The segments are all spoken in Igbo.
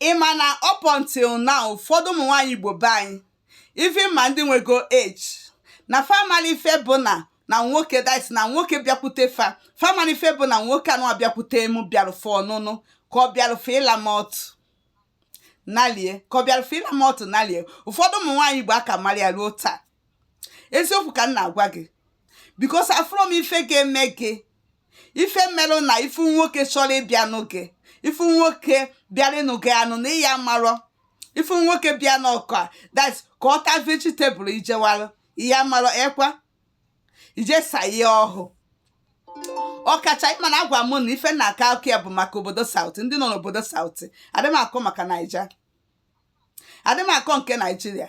ị ma na up until now ụfọdụ ụmụ nwaanyị Igbo be anyị even ma ndị nwego age na fa mali ife bụ na na nwoke that's na nwoke bịakwute fa fa mali ife bụ na nwoke anụa bịakwute mụ bịarụ for ọnụnụ ka ọ bịarụ for ịla m ọtụ nalie ka ọ bịarụ for ịla m ọtụ nalie ụfọdụ ụmụ nwaanyị Igbo akamarọ ya ruo taa eziokwu ka m na-agwa gị because afụrọ m ife ga-eme gị ife melụ na ị fụ nwoke chọrọ ịbịa nụọ gị ị fụ nwoke bịara ịnụ gị anụ na ịya marọ ị fụ nwoke bịanụ ka that ka ọ ta vegetable jewara ịya marọ ekwa ijesa ya ọhụ ọkacha ịma na agwa m na ife na aka akụ ya bụ maka obodo south ndị nọ n'obodo south adị m akọ maka naija adị m akọ nke nigeria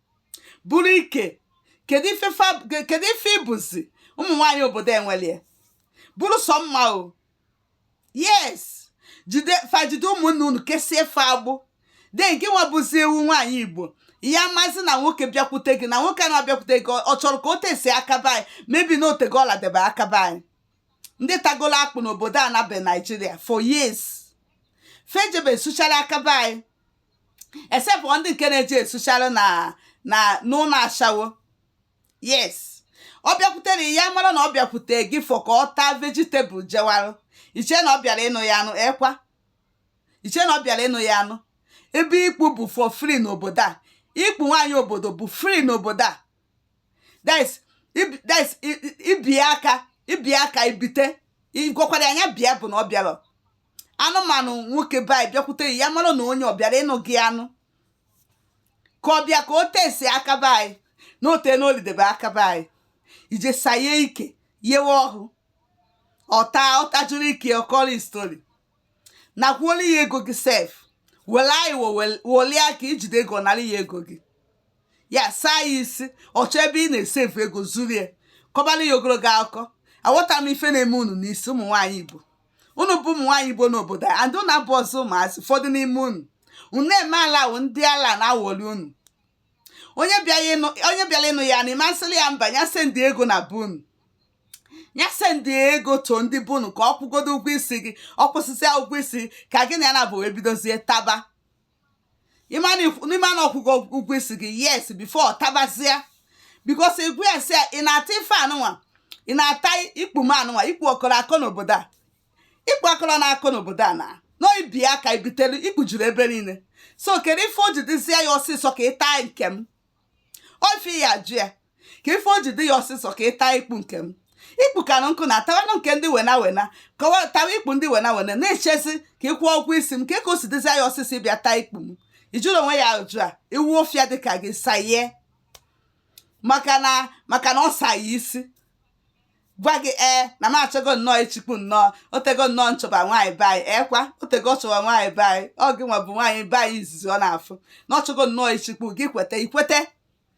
bụrụ ike kedu ife fa ke- kedu ife bụzi ụmụ nwaanyị obodo enwelie bụrụ sọ mma o yes jide fa jide ụmụnne unu kesie fa agbụ then gị nwa bụzi ewu nwaanyị igbo ya mazi na nwoke bịakwute gị na nwoke na-abịakwute gị ọ- ọ chọrọ ka o taste aka be anyị maybe na o tego ọ ladebe aka be anyị ndị tagolo akpụ n'obodo a na be nigeria for years fa ejebe suchara aka be anyị except ndị nke na-eji esuchara na na n'ụlọ ashawo yes ọ bịakwutere ya mara na ọ bịakwute gị for ka ọ taa vegetable jewarụ ị chee na ọ bịara ịnụ ya anụ ekwa ị chee na ọ bịara ịnụ ya anụ ebe ikpu bụ for free n'obodo a ikpu nwaanyị obodo bụ free n'obodo a that's that's i bie aka i bie aka i bite ịgwakwara anya bịa bụ na ọ bịara ịnụ m anụ nwoke be anyị bịakwute ya ya mara na onye ọ bịara ịnụ gị anụ ka ọ bịa ka o taste aka be anyị na o teena o lidebe aka be anyị ị je saa ya ike yewe ọhụ ọ ta ọ tajuru ike ọ kọrọ story nakwuola ya ego gị sef were anyị wolie aka ị jide ego nara ya ego gị ya saa ya isi ọ chọọ ebe ị na-save ego zuru ya kọbara ya ogologo akụkọ aghọtarọ m ife na-eme unu n'isi ụmụ nwaanyị igbo unu bụ ụmụ nwaanyị igbo n'obodo a and unu abụrọzị ụmụazị ụfọdụ n'ime unu unu eme ala wụ ndị ala na-awọli unu onye bịara ịnụ onye bịara ịnụ ya na ị masịrị ya mba ya send ego na be unu ya send ego to ndị be unu ka ọ kwụgodo ụgwọ isi gị ọ kwụsịsịa ụgwọ isi ka gị na ya naabọ wee bidozie taba ị mara na ọ kwụgo ụgwọ isi gị yes before tabazia because ị gwa ya sị ị na-ata ife anụnwa ị na-ata ikpu m anụnwa ikpu ọ kọrọ akọ n'obodo a ikpu akọrọ na-akọ n'obodo a na i bie aka i bitelu ikpu juru ebe niile so kedu ife o ji dịzie ya ọsịsọ ka ị taa nke m ofe ya ajụ ya ka ife o ji dị ya ọsịsọ ka ịta ikpu nke m ikpu kanụ nkụ na atawanụ nke ndị wena wena kọwa tawa ikpu ndị wena wena na-echezi ka ịkwụ ụgwọ isi m ka ka o si dịzi ya ọsịsọ ịbịa taa ikpu m ijụrụ onwe ya ajụ a ewu ọfịa dịka gị saye maka na maka na ọ saye isi gwa gị ee na m achọgo nnọọ ịchịkwu nnọọ o tego nnọọ nchọba nwaanyị be anyị ekwa o tego chọba nwaanyị be anyị ọ gị nwa bụ nwaanyị be anyị izizi ọ na-afụ na ọ chọgo nnọọ ịchịkwu gị kweta ikwete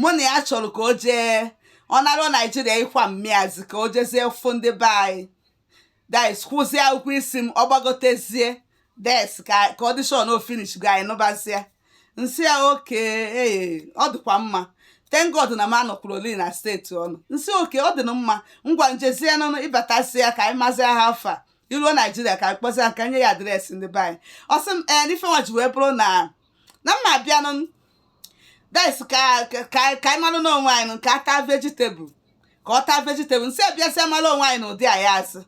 mụ na ya chọrọ ka o jee ọ nara naijiria ịkwa mmịazi ka o jezie fụ ndị be anyị that is kwụzie ụgwọ isi m ọ gbagotezie that is ka ka tradition ọ finishgo anyị nụbazie nsị ya okay ee ọ dịkwa mma thank God na m anọkwuru oli na steeti ọnụ nsị okay ọ dị na mma ngwa njezie nụnụ ị batasịa ka anyị mazie how far i ruo naijiria ka anyị kpọzie ka nye ya adreesị ndị be anyị ọ sị m ee n'ife nwa ji wee bụrụ na na mma abịanụ that is ka ka ka anyị malụ n'onwe anyị ka ata vegetable ka ọ taa vegetable nsị abịasịa mara onwe anyị na ụdị anyị asị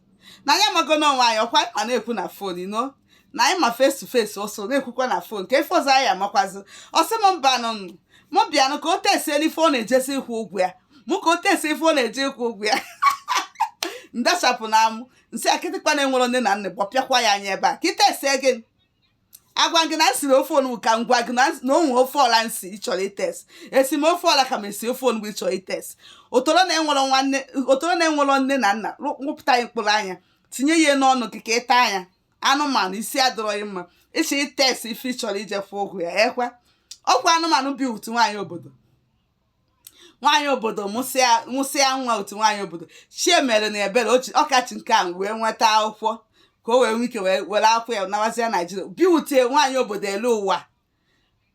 na anyị amago n'onwe anyị ọkwa ma na-ekwu na fon you know na anyị ma face to face ọ sọ na-ekwukwa na fon ka ife ọzọ anyị amakwazi ọ sị m mbanụ mụ bịanụ ka o testie n'ife ọ na-ejezi ịkwụ ụgwọ ya mụ ka o testie ife ọ na-eje ịkwụ ụgwọ ya ndachapụ n'amụ nsị a kịtịkpa na-enwerọ nne na nna gbọpịakwa ya anya ebe a ka ị testie gị agwa gị na nsiri ofe onugbu ka ngwa gị na o nwe ofe ọla nsi ị chọrọ itest esi m ofe ọla ka m esi ofe onugbu ị chọrọ itest ọtọrọ na-enwerọ nwanne ọtọrọ na-enwerọ nne na nna rụpụta ya mkpụrụ anya tinye ya n'ọnụ gị ka ị taa anya anụmanụ isi adịrọghị mma ị chọ itest ife ị chọrọ ije kwụ ụgwọ ya ekwa ọkwa anụmanụ bi utu nwaanyị obodo nwaanyị obodo mụsịa mụsịa nwa otu nwaanyị obodo chi emere ya ebere ochi ọkachi nke a wee nweta akwụkwọ ka o wee nwee ike wee were akwụkwọ ya nawazie naijiria biwutie nwaanyị obodo elu ụwa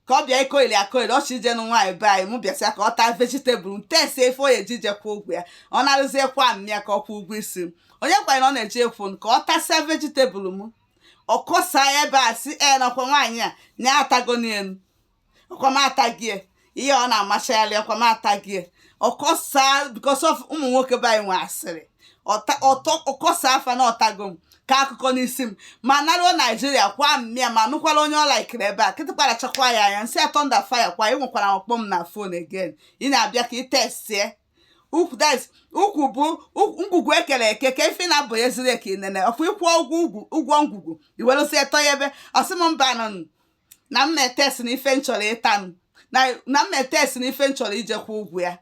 ka ọ bịa ịkọyili akọyili ọ chọ ije nụ nwaanyị be anyị mụ bịasịa ka ọ taa vegetable testie ife ọ na-eje ịkwụ ụgwọ ya ọ naruzie kwa mmịa ka ọ kwụọ ụgwọ isi m onye kwanye na ọ na-eje ịkwụ m ka ọ tasịa vegetable m ọ kọsaa ebe a sị e nekwa nwaanyị a na ya atago n'elu ọkwa m atago ya ihe ọ na-amachagharị ọkwa m atago ya ọ kọsa because of ụmụ nwoke be anyị nwe asịrị ọta- ọtọ ọ kọsaa fa na ọ tago m ka akụkọ n'isi m ma naruo naijiria kwa mmịa ma nụkwara onye ọla ikiri ebe a kịtịkpa rachakwa ya anya nsị a thunder fire kwa ị nwekwara akpọ m na fon again ị na-abịa ka ị testie ukwu that is, ukwu bụ ukwu- ngwugwu ekere eke ka ife na-abụ ya zuru eke inene ọkwa ị kwụọ ụgwọ ugwu- ụgwọ ngwugwu i werezie tọọ ya ebe ọ sị m mbanụ na m na-etest na ife m chọrọ ịtanụ na na m na-etest na ife m chọrọ ije kwụ ụgwọ ya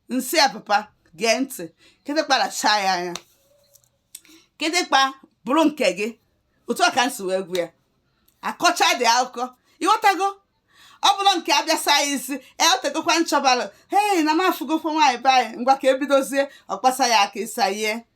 m sị ya papa gee ntị kịtịkpa rachaa ya anya kịtịkpa bụrụ nke gị otu a ka m si wee gwa ya akọcha dị akụkọ ị ghọtago ọ bụrụ nke abịa sayizi o tegokwa m chọbalụ hei na m afụgokwa nwaanyị be anyị ngwa ka ebidozie ọ kpasa ya aka ịsayie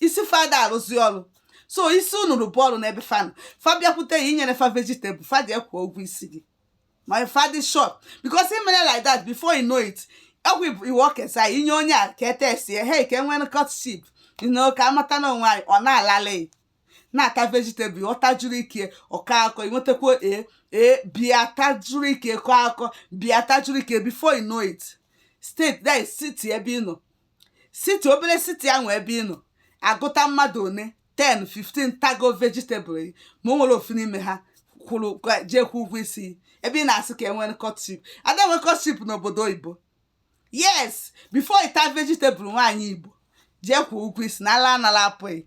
isi fa ada arụzi ọrụ so isi unu rụba ọrụ n'ebe fa nọ fa bịakwute ya inyere fa vegetable fa jee kwụ ụgwọ isi gị ma fa dị short because i mere like that before you know it ọgwụ iwu okesa inye onye a ka etesie he ka enwere courtship you know ka amata na onwe anyị ọ na-alala na-ata vegetable ọ tajuru ike ọka akọ inwetakwa e e bịa tajuru ike kọ akọ bịa tajuru ike before you know it state that is city ebe ị nọ city obere city ahụ ebe ị nọ agụta mmadụ one 10 15 tago vegetable gị ma o nwerọ ofu n'ime ha kwụrụ ga- jee kwụ ụgwọ isi gị. ebe ị na-asị ka enwere courtship ada enwe courtship n'obodo oyibo yes before ịta vegetable nwaanyị igbo jee kwụ ụgwọ isi na ala anala apụghị